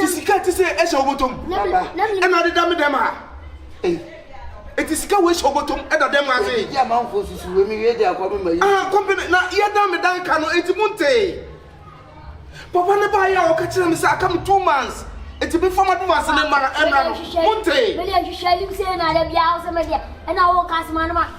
Ti sika ti sɛ ɛhyɛ wo bɔtɔm ɛna ɔde da me dɛm a Ei ti sika wei hyɛ wo bɔtɔm ɛda dɛm ase Ei di amanfo susu wei me wie de akɔ me ma yi Ah kɔmpene na yɛ dan me dan ka no enti mo nte Papa ne ba yɛ a ɔka kyerɛ me sɛ aka me two months enti me fam advance ne mara ɛmra no mo nte Me de nhwehwɛ anim sɛ na da biara wo sɛ me deɛ ɛna wo ka asoma no ma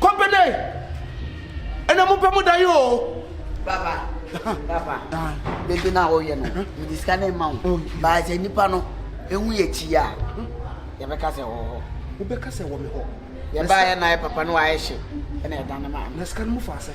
kɔpɛ dɛ ɛna mopɛ mo da yi o. baba baba bɛbi no a wɔyɛ no mede sika no ma wo baa sɛ nnipa no ɛhu yɛ kyi a yɛbɛka sɛ wɔ hɔ wobɛka sɛ wɔ me hɔ yɛbaeɛ na yɛ papa no waayɛ hye ɛna ɛda no maa no na sika no mu fa asɛn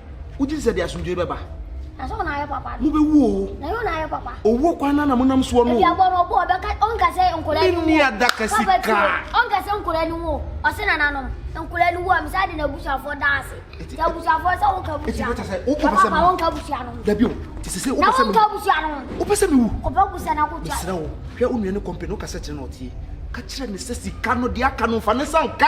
wogye di sɛ de asomdwoe bɛba mobɛwu o owuo kwan no na monam soɔ no menni adaka sikaa wopɛ sɛ mewu mesrɛ wo hwɛ wo nua no kɔmpɛ no woka sɛ kyerɛ na ɔteɛ ka kyerɛ ne sɛ sika no deɛ aka no mfa ne sa nka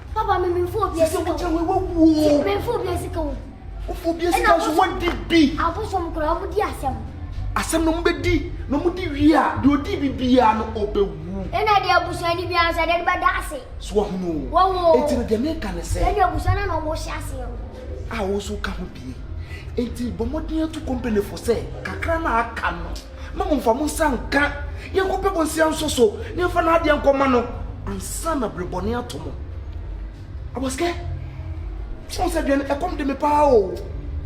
Papa mi mi nfu obi asika o. Sisi wo kyɛ wo ewa wuo. Mi nfu obi asika o. Wofu obi asika nso wadi bi. Abosom kura ɔmo di asɛm. Asɛm na ɔmo bɛ di na ɔmo di wie a deɛ ɔdi bi biara no ɔbɛ wu. Ɛna deɛ abusua ni biara nso ɛde de bɛ da ase. So wahunu o. Wahu o. Eti no deɛ mi ka ne sɛ. Ɛna abusua na na ɔmo hyɛ aseɛ o. A woso ka ho bie. Eti bɔ mmɔden atu company fo sɛ kakra na aka no. Ma momfa mo nsa nka yɛnkɔpɛ bonsea nsõ so na yɛmfa n'adeɛ nkɔma no ansa na bere bɔne ato mo. Abɔskɛ! Wohu sɛ aduane ɛkɔm de me paa o,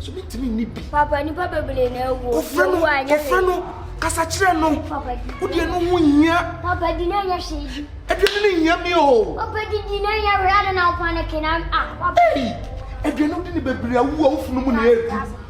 so mentumi nni bi. Papa, nipa bebree na ɛwɔ. Kɔfrɛ no, kɔfrɛ no, kasa kyerɛ no. Wodeɛ no ho nhia. Papa, di na nyɛ hwee di. Aduane no nhia mi o. Papa, di di na nyɛ hwee ade na wopa no kena. Ah, papa. Aduane wodi ne bebree awu a wofunu mu na ɛdu.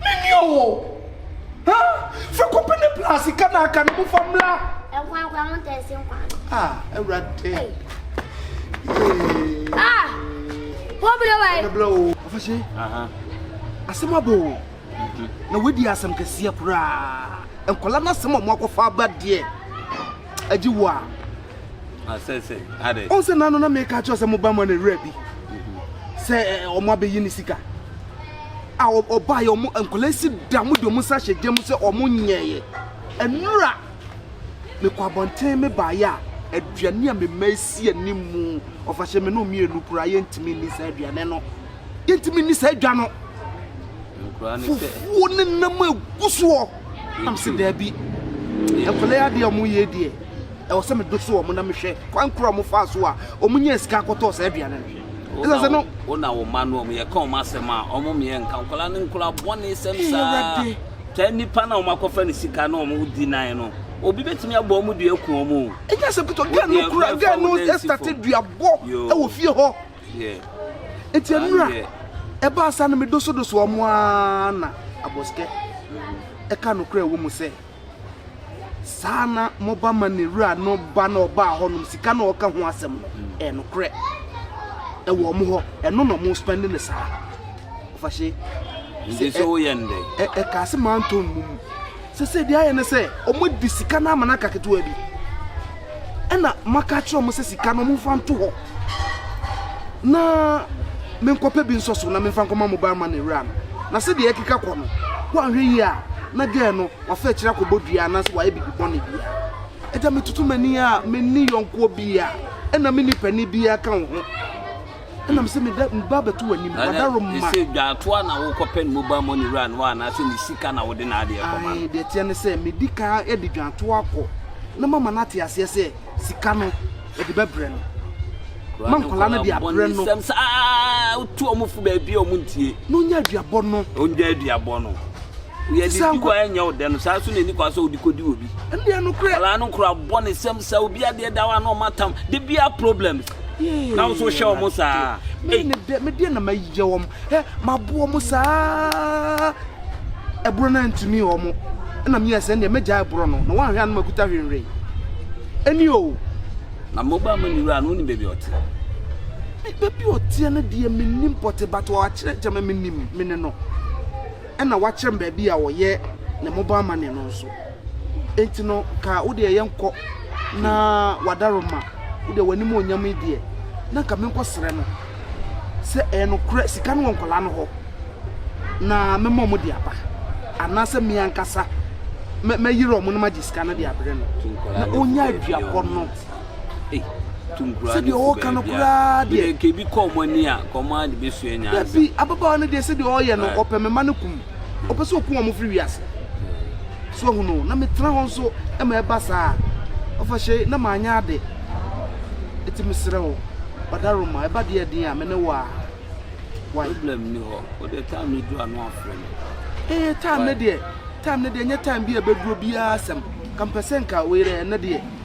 Me ni o. Ha? Fɛ kɔpɛ ne pla sika na aka no mo fa mmra. Nkwa nkwa mo ntɛnse nkwa. Ah, awurade. Ah! Pobire wai. Ne bla o. Afasi. Aha. Asɛm abo. Mhm. Na wadi asɛm kɛseɛ koraa. Nkɔla no asɛm a ɔmo akɔfa aba deɛ. Agye wo a. Asɛ sɛ, ade. Ɔn sɛ nano na meka kyerɛ sɛ mo ba ma no awura bi. Mhm. Sɛ ɔmo abɛyi ne sika. a ɔbaeɛ ɔmo nkwadaa si da mo de ɔmo nsa hyɛ gya mu sɛ ɔmo nyɛɛyɛ ɛnura mekɔ abɔnten me baeɛ a aduane a mema esi anim mu ɔfahyɛ me no mmienu koraa yɛntumi nni saa aduane no yɛntumi nni saa adwa no fufuo ne nam egu soɔ nam se daabi nkwadaa yɛ adeɛ ɔmo yɛ deɛ ɛwɔ sɛ medo so ɔmo na mehwɛ kwan koro ɔmo fa so a ɔmo nyɛ sika akɔtɔ saa aduane no. ɛsɛ sɛ no wo na wo mma no ɔmo yɛ ka ɔmo asɛm a ɔmo meyɛ nka nkɔla no nkɔla bɔne sɛm saa taa nipa na ɔmo akɔfa ne sika na ɔmo di nan no obi betumi abɔ ɔmo dua ku ɔmo o ɛnyɛ asɛm ketewa gɛɛ no kura gɛɛ no ɛstate dua bɔ ɛwɔ fie hɔ eti enura ɛba asa no me doso doso ɔmo aa na abɔsikɛ ɛka no kura ɛwɔ mu sɛ saa na mo ba ma ne wura no ba na ɔbaa hɔ nom sika na ɔka ho asɛm no ɛyɛ nokorɛ ɛwɔ ɔmo hɔ ɛno na ɔmo spɛnde ne saa ɔfahye nti sɛ woyɛ ndɛ ɛka ase ma ntɔ nnu mu sɛ sɛ deɛ ayɛ ne sɛ ɔmo di sika no ama no aka ketewa bi ɛna maka akyerɛ wɔn sɛ sika no wɔmfa nto hɔ na menkɔpɛ bi nsɔ so na memfa nkɔma mobile money wura no na sɛdeɛ ɛkeka kɔ no woanhwɛ yie a na gɛɛ no wafa akyiri akɔbɔ dua anaasɛ wayɛ bibi bɔne bia ɛgya metoto m'ani a menni yɔnkoɔ bia ɛna menni pani bia ka wo ho ɛna mesɛ meda meba bɛto w'anim wadaro ma ɛsɛ dwaatoa na wokɔpɛ no mobile money wura no anaasɛ ne sika na wode n'adeɛ kɔma no deɛ teɛ ne sɛ medi kan de dwaatoa kɔ na mama no ate aseɛ sɛ sika no ɛde bɛbrɛ no ma nkwadaa no de abrɛ no sɛm saa wotu ɔmo fo baabi a ɔmo ntie na ɔnya aduabɔ no ɔnya aduabɔ no Te sɛ nko. Yɛde nyɛ wo dɛ no, saa nso na ɛni kwan sɛ wode kɔdi obi. Ɛne yɛ nokorɛ. Waraa no nkora bɔ ne sɛm saa, obi adeɛ da hɔ a na ɔma tam, de bia problems. Na wo so wohwɛ wɔn saa. Me ne dɛ, me deɛ na ma yɛ wɔn, ɛ, ma bo wɔn saa. Ɛborɔ no antumi wɔn, ɛna me yɛ sɛ ɛneɛ mɛgya ɛborɔ no, na wɔanhwɛ ano makuta hwenhwen. Ɛne o. Na mobile money wura no, wonim baabi a ɔte? Baabi a ɔteɛ no deɛ mennim pɔte, but wɔakyerɛ gyama mennim, me ne no. Ɛna wakyerɛ me baabi a ɔyɛ ne mobile money no nso enti no nka wo deɛ yɛnkɔ na wadaroma wo deɛ w'anim onyam yi deɛ na nka menkɔ srɛ no sɛ ɛyɛ nokorɛ sika no wɔ nkwadaa no hɔ na mɛma ɔmo de aba anaasɛ me ankasa mɛyere ɔmo no magye sika no de abrɛ no na ɔnya aduakɔ no Sɛdeɛ ɔreka no koraa deɛ. Dabi, ababaawa no deɛ sɛdeɛ ɔreyɛ no, ɔpɛ me mma no kum. Ɔpɛ sɛ ɔkum wɔn firi wiase. So ahunu? Na metena hɔ nso ma ɛba saa. Ɔfahyɛ na manyɛ ade. Eti mesrɛ wo, Badaroma, ɛba deɛ den a, me ne wo a. Why? Problem ni hɔ. O deɛ time no duru ano afrɛ me. Ee, time no deɛ, time no deɛ, nyɛ time bi a ɛbɛduro biara asɛm. Nka mpɛ sɛ nka wei dɛ, ɛnɛ deɛ.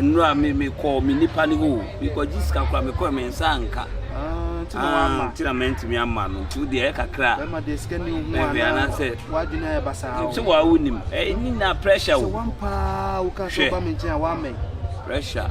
nnuro a mekɔ me nipa ne hɔ mekɔgye sika koraa mekɔɛ me nsa anka ah, nti na mantumi ama no nti wodeɛ ɛyɛ kakra ɛhwɛ anaasɛ sɛ wawo nim ɛni na pressure wo hwɛ pressure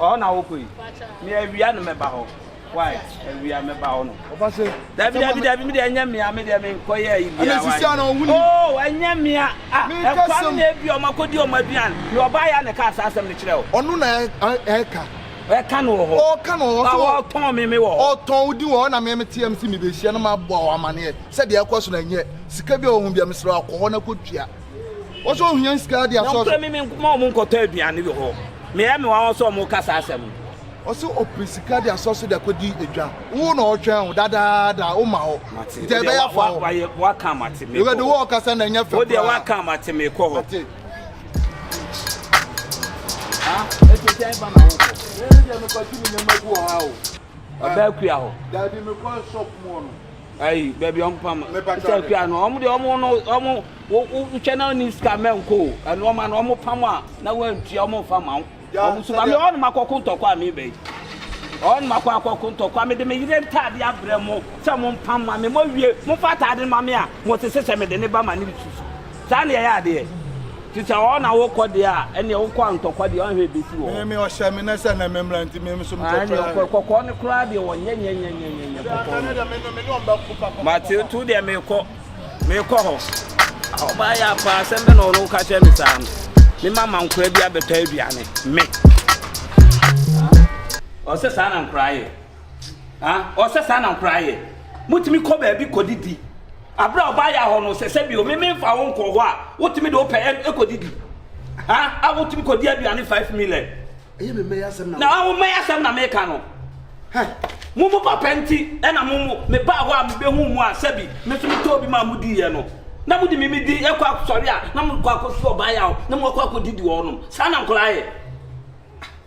ɔhɔ na wokɔ yi me awia no mɛba hɔ wai awia mɛba hɔ no dabi dabi dabi mi deɛ ɛnyɛ mmea mi deɛ mi nkɔ yɛ ayi bia wai oo ɛnyɛ mmea ah ɛkwa mi na ebi ɔmo akɔdi ɔmo aduan mi ɔbaa yɛ na ɛka saa asɛm no kyerɛ o. ɔno na ɛka. ɛka no wɔ hɔ ɔka no wɔ hɔ so ɔtɔn mi mi wɔ hɔ ɔtɔn odi wɔ hɔ na mi mi teɛ mi si mi bɛ hyia no ma bɔ awo amaneɛ sɛ deɛ ɛkɔ so na ɛnyɛ sika bi a ɔhun bi a mi srɛ akɔ hɔ na kɔ tua. wɔsɛ ohia nsika de asɔ so. mi mi nkuma ɔmo nkɔtɔ aduane wɔ hɔ meyɛ me wɔn sɛ ɔmo kasa asɛm. ɔsɛ ɔpɛ sika de asɔ so de akɔdi adwa wo na ɔtwɛn wo dadaada woma hɔ nti ɛbɛyɛ afa hɔ waka mate me wode wɔ ɔkasa na ɛnyɛ fɛ wodeɛ waka mate me kɔ hɔ mate ɛti sɛ ɛba na wokɔ ɛyɛ deɛ mekɔte me nneɛma gu wɔ ha o ɔbaa kua hɔ daabi mekɔ shop mu ɔno ayi baabi ɔmo pam sɛ pia no ɔmo de ɔmo no ɔmo wotwa na ɔni sika mɛnko o ɛno ɔma no ɔmo pam a na wɔantua ɔmo nfa ma wo ɔmo so maame ɔno ma kɔko ntɔkɔ a meba yi ɔno ma kɔ akɔko ntɔkɔ a mede me yere ntaade abrɛ mo sɛ mo mpam ma me mo wie mo fa ataade ma me a mo te sɛ sɛ mede ne ba ma ne susu Saa na yɛyɛ adeɛ. Te sɛ wɔn na wokɔ deɛ a, ɛnneɛ wokɔ a ntɔkwa deɛ ɔnhwɛ ɛbɛsi wɔ hɔ. Meme ɔhyɛ me nɛ sɛ na memmra nti meme nso mekɔ Ɛnneɛ koraa. ɔkɔ kɔkɔɔ no koraa deɛ wɔnyɛ nyɛnyɛnyɛnyɛnyɛ Sɛ kɔkɔɔ aka no no. deɛ me no me ne wɔn bɛko pa Mate papapapa. nto deɛ mekɔ mekɔ hɔ. Ɔbaa yi apa asɛm bɛ na ɔno woka kyerɛ me saa no. Me ma ma nkoraa bi abɛtɔ aduane. Me. Ɔsɛ saa na nkoraa yɛ. Ah, ɔsɛ saa na nkora yɛ. Motumi kɔ baabi kɔdidi. Abere a ɔbaa yɛ hɔ no, sɛ sɛ bio, meme nfa wo nkɔ hɔ a, wotumi de wopɛ ɛkɔdidi. Ha, a wotumi kɔdi aduane five million. Ɛyɛ me mmɛyɛ asɛm na. Na wo mmɛyɛ asɛm na meka no. Hɛ, mo mo papa nti ɛna mo mo mebaa hɔ a mebehu mo a sɛbi me nso metɔ obi maa mo diiɛ no. Na mo de me medi ɛkɔ asɔre a na mo kɔ akɔsi ɔbaa yɛ hɔ na mo akɔ akɔdidi wɔ hɔnom. Saa na nkora yɛ.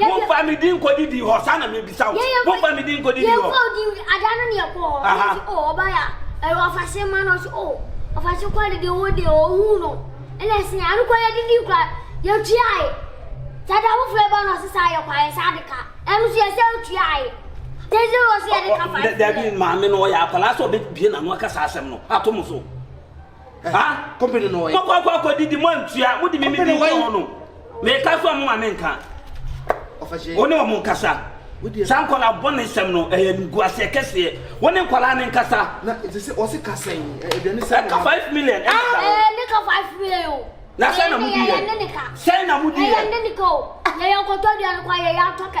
Womfa me din nkɔdidi hɔ saa na mebisa wo. Womfa me din nkɔdidi hɔ. Yɛnkɔ din ada no ne yɛkɔ hɔ. Nti o ɔba yɛ a ɔfase ma no so o ɔfase kɔ didi o de ɔhu no. Ɛna ɛsɛ yɛ anokɔ yɛ didi kora yɛtuae. Sɛ da foforɔ ɛba no ɔsesa yɛ kwa yɛsa de ka. Ɛno so yɛsɛ tuae. Tezi wɔ so yɛ de ka fa. Dabi maame no ɔyɛ akwadaa sɛ ɔbɛbie n'ano aka saa asɛm no ato mo so. mokɔ akɔ akɔ didi mo antua mo di mi mi di wɔn no meka so ɔmo ma me nka wo ne ɔmo nkasa saa nkɔla bɔ ne nsɛm no ɛyɛ nkuaseɛ kɛseɛ wo ne nkɔla ne nkasa ɛka five million ɛka ah, eh, ne ka five million o na sɛn na mo di yɛ sɛn na mo di yɛ yɛyɛ nkɔtɔ deɛ no kɔ yɛyɛ atɔ kɛ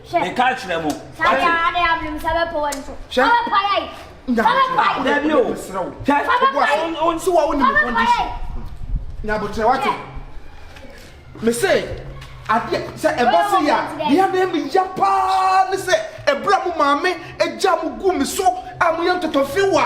meka kyerɛ mo wate mese adeɛ sɛ ɛba sɛ yɛ a deɛ na ɛmi ya paa ne sɛ ɛberɛ a mo maame agya mo gu me so a moyɛ ntɔtɔfe wa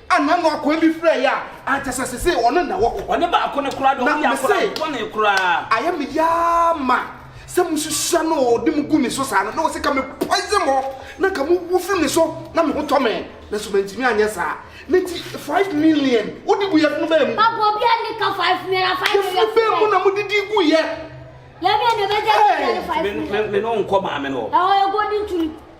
Ana no akoa bi frɛe a ankyɛ sɛ sesei ɔno na ɛwɔ hɔ? Ɔne baako no koraa de, Na wɔyɛ me se, akwadaa bɔne koraa. ayɛ me yaa ma sɛ mo susua no o, de mo gu me so saa no, na wɔ se ka me poison mo, na nka mo wu firi me so, na me ho tɔ me, nanso mantumi anyɛ saa, na nti five million wo de gu yafunu bɛɛ mu. Papa obiara nni ka five million, five million Yafunu bɛɛ mu na mo de di gu yɛ. Yɛn nua na ɛbɛgya ne sika ne five million. Me ne wo nkɔ maame no hɔ. Ɛhɔ yɛ golden tulip.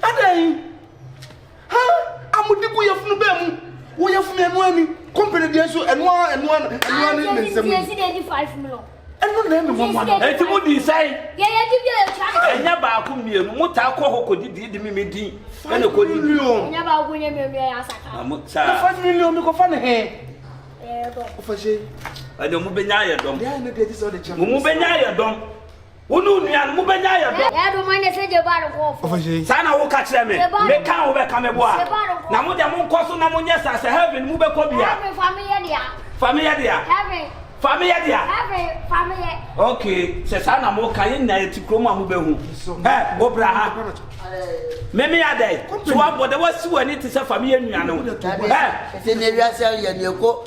Adɛn? Ha! A mode gu yafunu bɛn mu? Wo yafunu ɛno ani. Kompene deɛ nso ɛno ara ɛno ara ɛno ara ne ne nsɛm yi. Ɛno na ɛmi wɔn wɔn. Eti mo di nsɛn. Yɛyɛ di bi a yɛtwa no. Ɛnyɛ baako mmienu mo taa kɔ hɔ kɔdi di di mi mi di. Ɛna kɔ di di. Ɛnyɛ baako nyɛ mmienu yɛ asaka. Amu saa. Five million mi kɔ fa ne hɛn. Ɛyɛ dɔm. Ɔfɛ se. Ɛna mo bɛ nya ayɛ dɔm. Mo mo bɛ nya ayɛ dɔm. Wo ne wo nua no, mobɛnya ayɛdɔ. Saa na woka kyerɛ me. Meka a wobɛka me bo a. Na mo deɛ monkɔ so na monyɛ saa. Sɛ heaven mobɛkɔ bi a. Fa me yɛ dea. Fa me yɛ dea. Fa me yɛ dea. Ok, sɛ saa na moka, yɛn nyinaa yɛte kurom a mobɛhu. Ɛ, wo bra ha. Me me yɛ dɛn? So woabɔ dɛ, woasi w'ani te sɛ fa me yɛ nua no. Ɛ.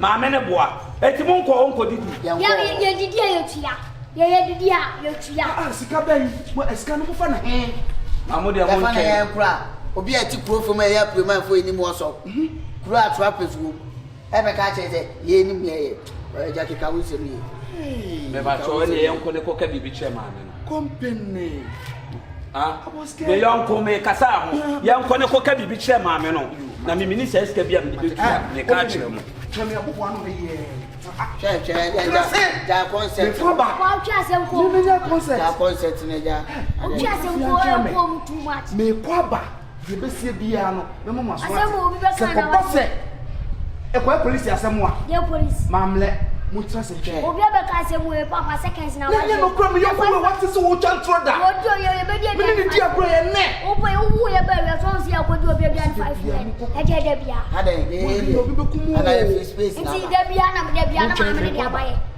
Maame no boa. Enti monkɔ hɔ nkɔdidi. Yɛnkɔ hɔ. Yɛdidi a, yɛtua. Yɛdidi a, yɛtua. Ah, sika bɛn? Mo, sika no mofa no he? Na mo deɛ montwɛn. Yɛfa no he koraa? Obi a ɛte kuro fam a ɛyɛ Apuemanfoɔ anim hɔ sɔ kuro a trapez wom ɛbɛka akyerɛ sɛ yɛn anim he ɛyɛ. Agya keka wo nsɛm yie. Mepakyɛw, ɛneɛ yɛnkɔ ne kɔka biribi kyerɛ maame no. company. Ah, ne yɔnko me kasa ho yɛnkɔ ne kɔka biribi kyerɛ maame no na memeni saa sika bi a mede bɛtua ne ka kyerɛ mu mekɔ aba deɛ bɛsie biara no mɛma mo aso ate sɛ kɔba sɛ ɛkɔyɛ polisi asɛm a mamlɛ montena sɛ twɛɛ yɛnyɛ nokora meyɛ fo wɔ wate sɛ wɔtwa ntorɔ da mene ne di agorɔ yɛ nnɛ adɛn obi bɛkum o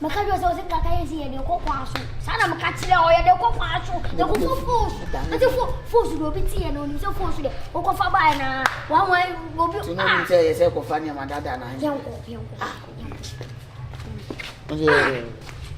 Meka kyerɛ sɛ ɔsɛ kaka yɛ sɛ yɛde kɔ kwan so saa na meka kyerɛ ɔ yɛde kɔ kwan so yɛkɔ fo fos ɛte fo fos de obi ti yɛ na onim sɛ fos de wokɔfa baayɛ na wɔn wɔn obi a. tunu nim sɛ yɛ sɛ kɔfa nneɛma dada na. yɛnkɔ yɛnkɔ yɛnkɔ.